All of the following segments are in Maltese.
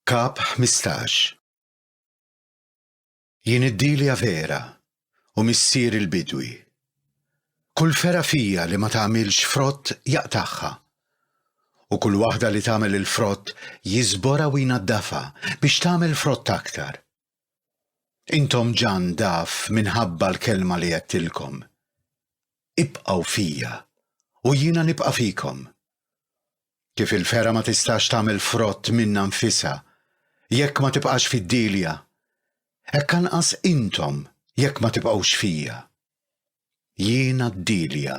Kap 15 Jien id-Dilja vera u missier il-bidwi. Kull fera fija li ma tagħmilx frott jaqtagħha u kull waħda li tagħmel il-frott jiżbora u jnaddafha biex tagħmel frott aktar. Intom ġan daf minħabba l-kelma li għedtilkom. Ibqgħu fija, u jiena nibqa' fikom. Kif il-fergħa ma tistax tagħmel frott minnha nfisha jekk ma tibqax fid-dielja, hekk anqas intom jekk ma tibqgħux fija. Jiena d-dielja,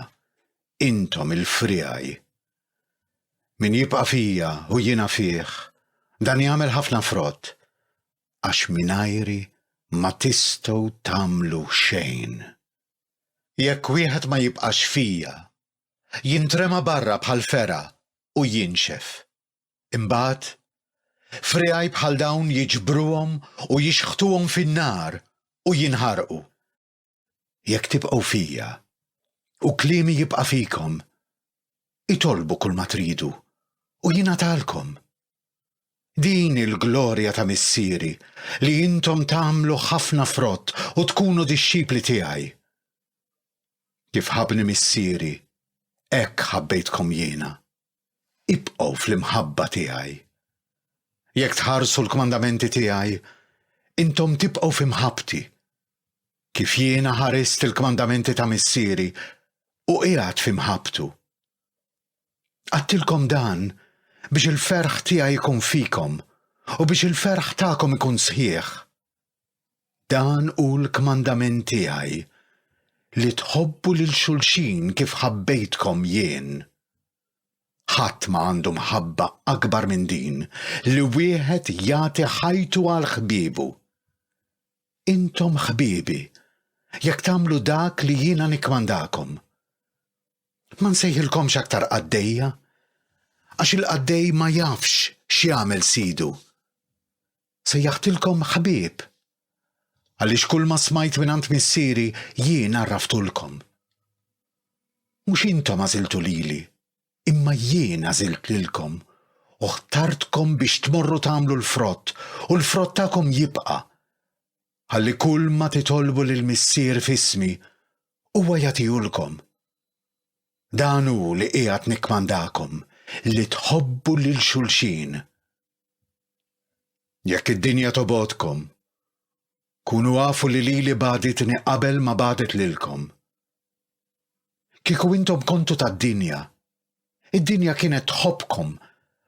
intom il-friegħi. Min jibqa' fija u jiena fih, dan jagħmel ħafna frott, għax mingħajri ma tistgħu tagħmlu xejn. Jekk wieħed ma jibqax fija, jintrema barra bħal fergħa u jinxef. Imbagħad, friegħi bħal dawn jiġbruhom u jixħtuhom fin-nar u jinħarqu. Jekk tibqgħu fija, u kliemi jibqa' fikom, itolbu kulma tridu, u jingħatalkom. Din hi l-glorja ta' Missieri, li intom tagħmlu ħafna frott u tkunu dixxipli tiegħi. Kif ħabbni Missieri, hekk ħabbejtkom jiena. Ibqgħu fl-imħabba tiegħi. Jekk tħarsu l-kmandamenti tiegħi, intom tibqgħu fi mħabbti, kif jiena ħarist il-kmandamenti ta' Missieri u qiegħed fi mħabbtu. Għadtilkom dan biex il-ferħ tiegħi jkun fikom u biex il-ferħ tagħkom ikun sħiħ. Dan hu l-kmandament tiegħi li tħobbu lil xulxin kif ħabbejtkom jien. Ħadd ma għandu mħabba akbar minn din li wieħed jagħti ħajtu għal ħbiebu. Intom ħbiebi, jekk tagħmlu dak li jiena nikkmandakom. Ma nsejħilkomx aktar qaddejja, għax il-qaddej ma jafx x'jagħmel sidu. Sejjaħtilkom ħbieb, għaliex kulma smajt mingħand Missieri jien għarraftulkom. Mhux intom għażiltu lili, imma jien għażilt lilkom u ħtartkom biex tmorru tagħmlu l-frott u l-frott tagħkom jibqa', ħalli kulma titolbu lill-Missier f'ismi, huwa jagħtihulkom. Dan hu li qiegħed nikkmandakom li tħobbu lil xulxin. Jekk id-dinja tobgħodkom, kunu għafu li lili bagħditni qabel ma bagħdet lilkom. Kieku intom kontu tad-dinja, id-dinja kienet tħobbkom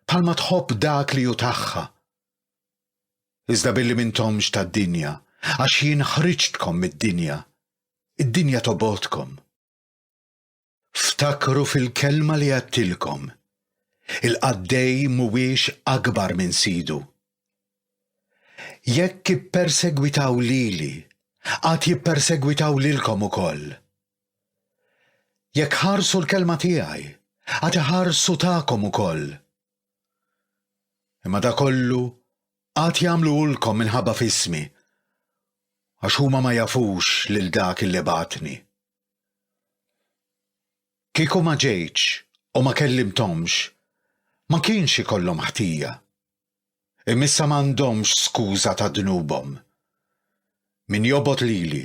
bħalma tħobb dak li hu tagħha. Iżda billi m'intomx tad-dinja, għax jien ħriġtkom mid-dinja, id-dinja tobgħodkom. Ftakru fil-kelma li għadtilkom, il-qaddej mhuwiex akbar minn sidu. Jekk ippersegwitaw lili, għad jippersegwitaw lilkom ukoll. Jekk ħarsu l-kelma tiegħi, għad iħarsu tagħkom ukoll. Imma da kollu Għad jagħmluhulkom minħabba f'ismi, għax huma ma jafux lil dak li bagħatni. Kieku ma ġejtx u ma kellimthomx, ma kienx ikollhom ħtija. Imma issa m'għandhomx skuża ta' dnubhom. Min jobgħod lili,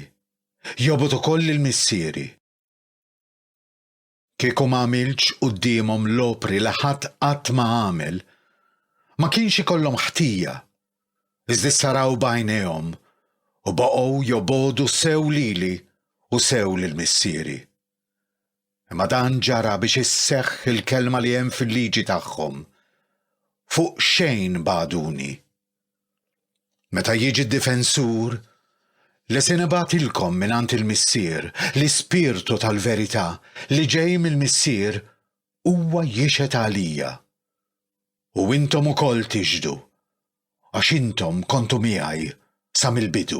jobgħod ukoll lil Missieri. Kieku ma għamiltx quddiemhom l-opri li ħadd qatt ma għamel, ma kienx ikollhom ħtija, iżda issa raw b'għajnejhom u baqgħu jobogħdu sew lili u sew lil Missieri. Imma dan ġara biex isseħħ il-kelma li hemm fil-liġi tagħhom, Fuq xejn bagħduni. Meta jiġi d-Difensur, li se nibgħatilkom mingħand il-Missier, l-Ispirtu tal-verità, li ġej mill-Missier, huwa jixhed għalija. U intom ukoll tixhdu, għax intom kontu miegħi sa mill-bidu.